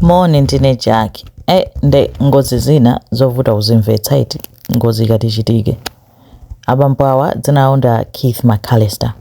Moni ndine Jack. Eh, nde ngozi zina zovuta kuzimvetsa eti ngozi ikati ichitike. Abambo awa dzina lawo ndi a Keith McAllister.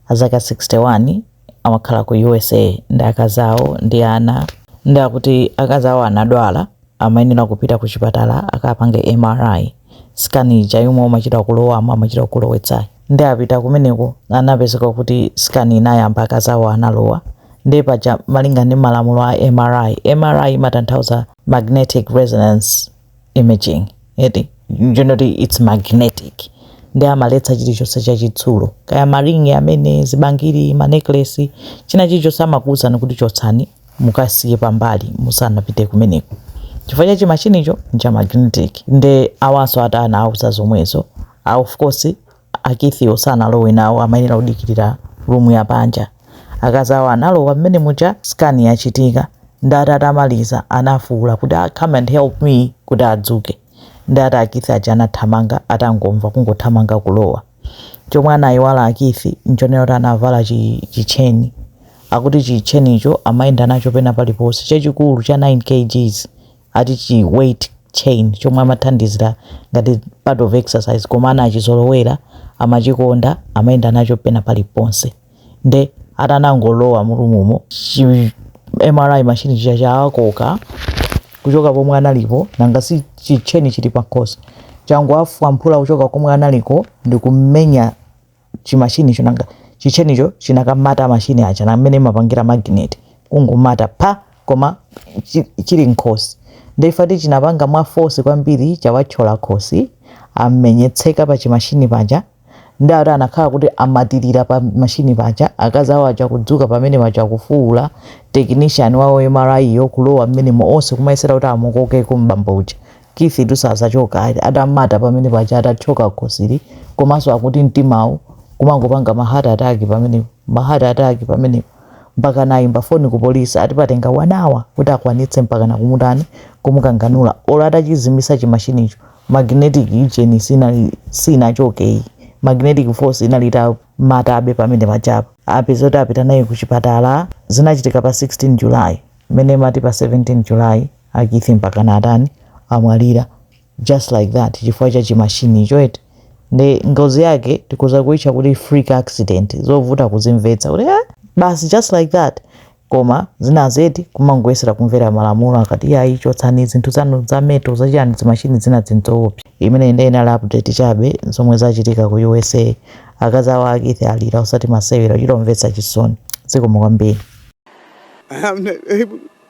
Azaka 61 amakhala ku USA ndi akazi awo ndi ana. Nde akuti akazi awo anadwala amayenera kupita ku chipatala akapange MRI. Scan ija yomwe amachita kulowamo amachita kulowetsayo. nde apita kumeneko anapezeka kuti scan inayamba akazawo analowa nde paja malinga ndi malamulo a mri mri imatanthauza magnetic resonance imaging eti ndiye kuti its magnetic nde amaletsa chilichonse chachitsulo kaya maringi amenewa zibangiri maneklesi china chilichonse amakuwuzani kuti chotsani mukasiye pambali musanapite kumeneko chifukwa cha chimashinicho ncha magnetic nde awanso ati anawauza zomwezo a of course Keith-wo sanalowe nawo amayenera kudikirira room ya panja akazi awo analowa mmene muja scan yachitika nde ati atamaliza anafuwula kuti ah, come and help me kuti adzuke nde ati a Keith aja anathamanga atangomva kungothamanga kulowa chomwe anayiwala a Keith nchonena kuti anavala chi- chitcheni akuti chitchenicho amayenda nacho pena paliponse chachikulu cha 9 kgs ati chi weight chain chomwe amathandizira ngati part of exercise koma anachizolowera amachikonda amayenda nacho pena paliponse nde atanangolowa mulumumo chi mri machine chija chawakoka kuchoka pomwe analipo nanga si chitcheni chili pakhosi changu chawafwamphula kuchoka komwe analiko ndikukamenya chi machine cho nanga chi chain cho chinakamata machine aja na mmene imapangira magnet kungomata pa koma chi- chili nkhosi nde ati chinapanga mwa force kwambiri chawathyola khosi amenyetseka pa chimashini paja nde ati anakhala kuti amatirira pa mashini paja akazi awo aja kudzuka pamene paja kufuwula technician wawo wa mri yo kulowa mmenemo onse kumayesera kuti amukokeko mbambo uja Keithitu sakuchoka ayi atam'mata pamene paja atathyoka khosili komanso akuti mtimawu kumangopanga ma heart attack pamenepo ma heart attack pamenepo mpakana ayimba foni ku police ati patenga 1 hour kuti akwanitse mpakana kumutani kumukanganula olo atachizimisa chi machinicho magnetic ujeni sinali sinachoke iyi magnetic force inali itam'matabe pamene pajapa apezeka kuti apita naye kuchipatala zinachitika pa 16 July mmene imati pa 17 July A Keith mpakana atani? Amwalira just like that chifukwa cha chi machine cho eti? Nde ngozi yake tikhoza kuitcha kuti freak accident, zovuta kuzimvetsa kuti eh basi just like that koma zinazi eti kumangoyesera kumvera malamulo akati iyayi chotsani zinthu zanu za metal za chiyani dzi machine zinazi n'zoopsa. Imeneyi nde inali update chabe zomwe zachitika ku usa. Akazi awo a Keith alira osati masewera, zomvetsa chisoni. Zikomo kwambiri. I'm not able.